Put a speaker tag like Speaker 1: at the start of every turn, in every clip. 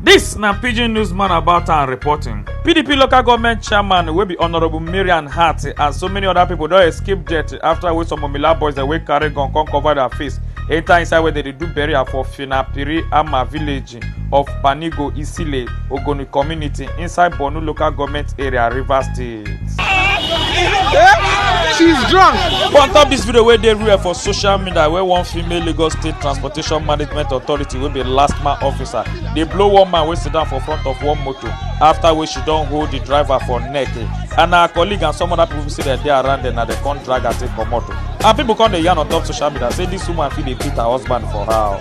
Speaker 1: This na pidgin newsman about and reporting. PDP local government chairman wey be honourable Marian Hart and so many other people don escape death after wey some Omila boys dey wey carry gun come cover their face enter inside where they dey do burial for Finapiri Ama village. of Banigo Isile Ogoni community inside Borno local government area, Rivers State. She's drunk. On top this video wey dey real for social media where one female Lagos State Transportation Management Authority wey be last man officer dey blow one man wey sit down for front of one motor after wey she don hold the driver for neck eh. and her colleague and some other people say dem dey around dem na dem come drag her take comot o. And people come dey yarn on top social media say this woman fit dey beat her husband for house.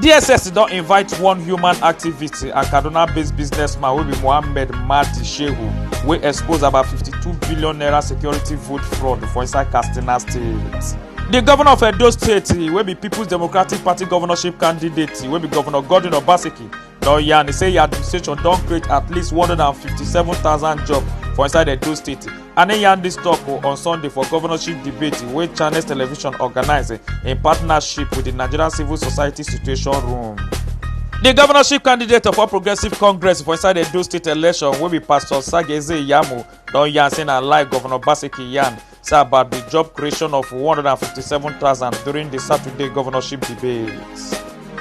Speaker 1: dss don invite one human activist and kaduna-based businessman wey be mohammed mahdi shehu wey expose about 52 billion naira security vote fraud for inside katsina state. di govnor of edo state wey be peoples democratic party governorship candidate wey be govnor godwin obaseki don yarn say im administration don create at least 157000 jobs for inside edo state and e yarn dis tok on sunday for governorship debate wey channels television organise in partnership wit di nigerian civil society situation room. di governorship candidate of all progressive congress for inside edo state election wey be pastor sageze iyamu don yarn say na lie governor basiki yarn say about di job creation of 157000 during di saturday governorship debate.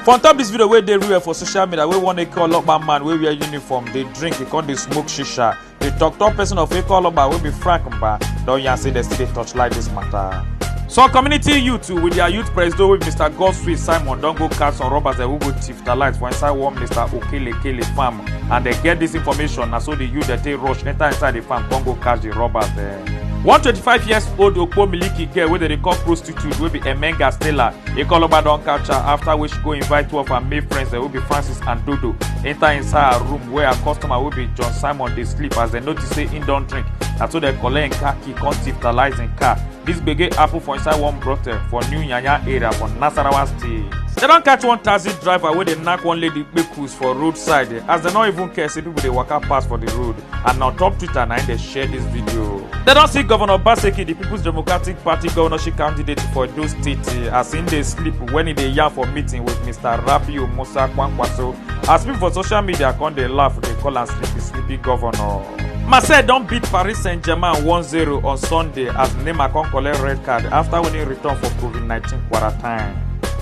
Speaker 1: for on top dis video wey dey real for social media wey one eke olopa man wey wear uniform dey drink e con dey smoke shisha di tok-tok pesin of ekwalogba wey be frank mba don yarn say dem still dey torchlight dis mata. some community youth with dia youth presido wey be mr godswill simon don go catch some robbers dem wey go thief dia light for inside one mr okelekele farm and dem get dis information na so di youth dem take rush enta inside di farm come go catch di robbers dem. one twenty five years old okpo miliki girl wey dem dey call prostitute. attitude wey be Emenga Stella. Ikoloba don catch her after wey she go invite two of her male friends dem wey be Francis and Dodo enter inside her room where her customer wey be John Simon dey sleep as dem notice say im don drink. Na so dem collect im car key come titalize im car. Dis gbege happen for inside one brothel for New Yanya area for Nasarawa State. Dem don catch one taxi driver wey dey knack one lady kpekus for roadside as dem no even care say people dey waka pass for the road. and na on top twitter na im dey share dis video. dem don see governor obaseki di peoples democratic party governorship candidate for edo state as im dey sleep wen e dey yarn for meeting wit mr rabiu musa kwankwaso as pipo for social media come dey laugh dey call am sleepy sleepy governor. marseille don beat paris saint-germain 1-0 on sunday as neymar come collect red card afta winning return for covid-19 quarantine.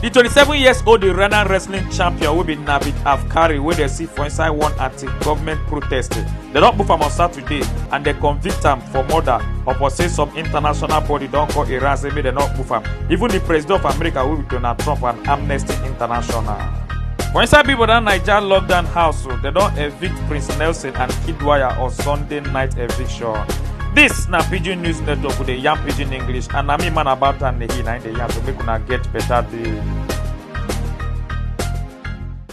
Speaker 1: di 27 years old iranian wrestling champion wey be navid afkari wey dey see for inside one government protest dem don move am on saturday and dem convict am for murder upon say some international body don call iran say make dem not move am even the president of america wey be donald trump and amnesty international. for inside people dat naija lockdown house o dem don evict prince nelson and kidwaya on sunday night eviction dis na pidgin news network we dey yarn pidgin english and na me man about am dey hear na im dey yarn so make una get better day.